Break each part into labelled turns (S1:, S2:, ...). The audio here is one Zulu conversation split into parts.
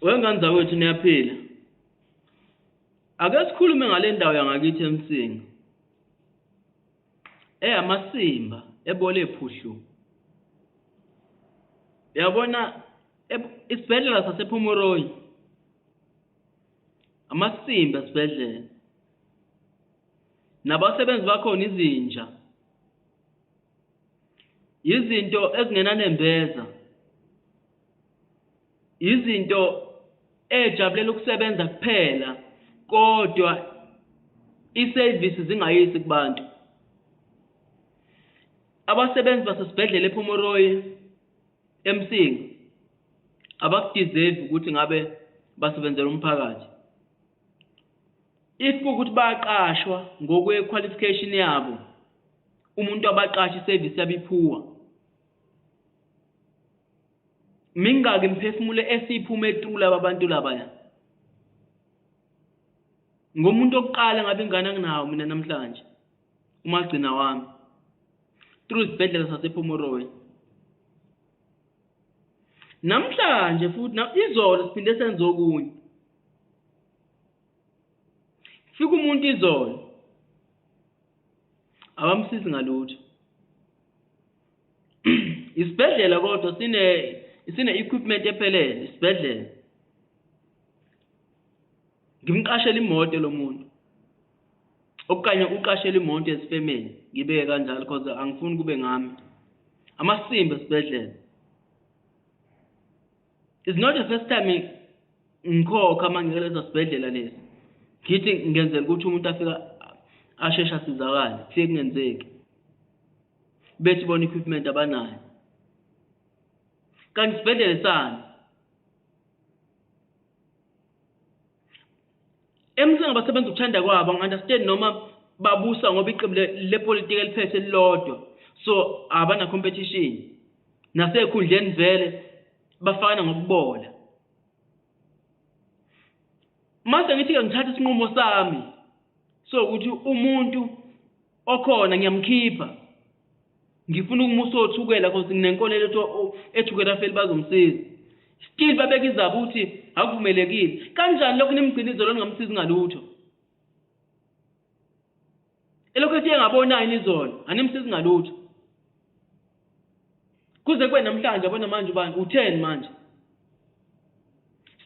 S1: Wengane zakwethu niyaphila. Ake sikhulume ngale ndawo yangakithi eMsinga. Eyamasimba ebole ephuhlu. Yabona isibhedlela sasePhomoroyi. Amasimba esibhedlela. Nabasebenzi bakhona izinja. Yizinto ezingenanembeza. izinto ejabulela ukusebenza kuphela kodwa isevisi zingayisi kubantu abasebenzi basesibhedlela ePomoroy eMsinga abakudeserve ukuthi ngabe basebenzela umphakathi if ukuthi bayaqashwa ngokwe qualification yabo umuntu abaqasha iservice yabiphuwa mingaki imiphefumulo esiphuma etula babantu labaya ngomuntu okuqala ngabe ingane anginawo mina namhlanje umagcina wami through isibhedlela sasePomoroy namhlanje futhi izolo siphinde senze okunye fika umuntu izolo abamsizi ngalutho isibhedlela kodwa sine sine equipment ephelele isibhedlela ngimqashela imoto lo muntu okanye uqashela imoto ezifemeni ngibeke kanjalo because angifuni kube ngami amasimba esibhedlela is not the first time ngikhokha uma ngike leso sibhedlela lesi ngithi ngenzela ukuthi umuntu afika asheshe asizakale kufike kungenzeki bethi bona equipment abanayo kanti sibhedlele sani emsini abasebenza ukuthanda kwabo ngi-understand noma babusa ngoba iqembu lepolitiki eliphethe elilodwa so abana competition nasekhundleni vele bafana ngokubola mase ngithi-ke ngithatha isinqumo sami so ukuthi umuntu okhona ngiyamkhipha ngifuna ukumusa othukela cause nginenkolelo ethi ethukela afeli bazomsiza still babeka izaba ukuthi akuvumelekile kanjani lokhu nimgcina izolo ningamsizi ngalutho elokhu esiye ngabonayo nizolo animsizi ngalutho kuze kube namhlanje yabona manje ubani utheni manje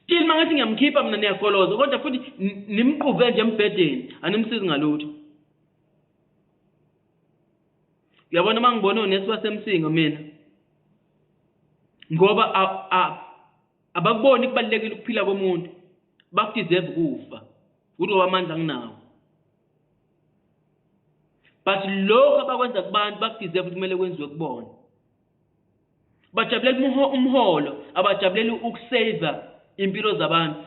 S1: still uma ngathi ngiyamkhipha mina niyagoloza kodwa futhi nimqube nje embhedeni animsizi ngalutho uyabona uma ngibona unesi wasemsinga mina ngoba abakuboni kubalulekile ukuphila komuntu bakudeserve kufa ukuthi wamandla nginawo but lokho abakwenza kubantu bakudeserve ukuthi kumele kwenziwe kubona bajabulela umholo abajabulela ukusave impilo zabantu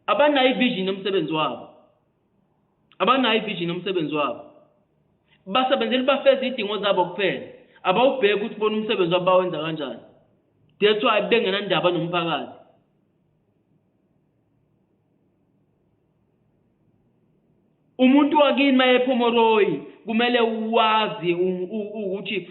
S1: abanayo ivision yomsebenzi wabo abanayo ivision yomsebenzi wabo basebenzela bafeza idingo zabo kuphela abawubheki ukuthi bona umsebenzi wabo bawenza kanjani that's why bengenandaba nomphakathi umuntu wakini mayephomoroyi kumele wazi ukuthi